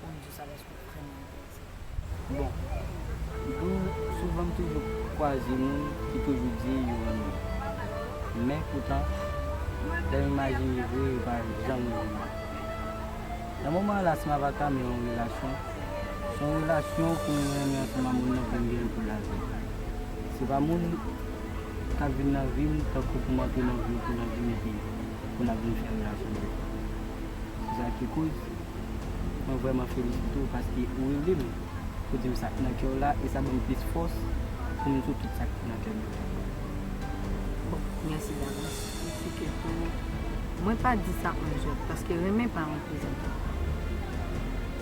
Bon Dieu sa gen sou kè moun bondye. Bon Bdou souvan m toujou kwaze moun ki toujou di yo renmen m men poutan lè m imajine vre yo pa janm renmen m nan moman an la si m ava tame yon relasyon se yon relasyon pou m renmen ansanm a moun nan pou m gen l pou lavi se pa moun k ap vin nan vi m tankou pou m antre nan vi w pou nan vin epi pou n ap vin fè relasyon se sa ki koz. Mwen vrèman felisite w paske ou rele m pou w di m sa k nan kè w la e sa ban m plis fòs pou m di w tout sa k nan kè m la. Bon, mèsi davans. Mwen si ke tou mwen pa di sa an jwèt paske renmen pa yon plezantri.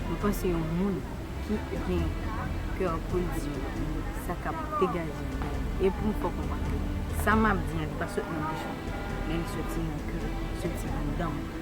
Mwen panse yon moun ki gen kè pou l di yon lòt moun sa k ap degaje nan kè l e pou m fè w konprann ke sa m ap di an li pa sot nan bouch mwen men li soti nan kè m, li soti anndan mwen.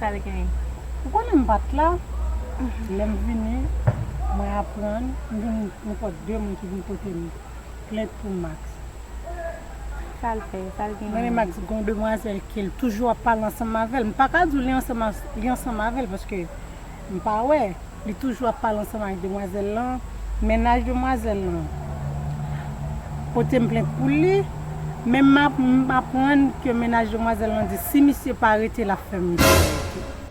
Sa li genyen? Ou konnen m pat la, lè m vini mwen aprann m vin gen pot 2 moun ki vin pote m plent pou Max. Sa l fè? Sa l genyen? Mwen e Max gen yon demwazèl ke l toujou ap pale ansanm avè l. M paka di w li ansanm avè l paske m pa wè. Li toujou ap pale ansanm ak demwazèl lan, mennaj demwazèl lan pote m plent pou li, men m aprann ke mennaj demwazèl lan di si misye pa rete l ap fè misye rete.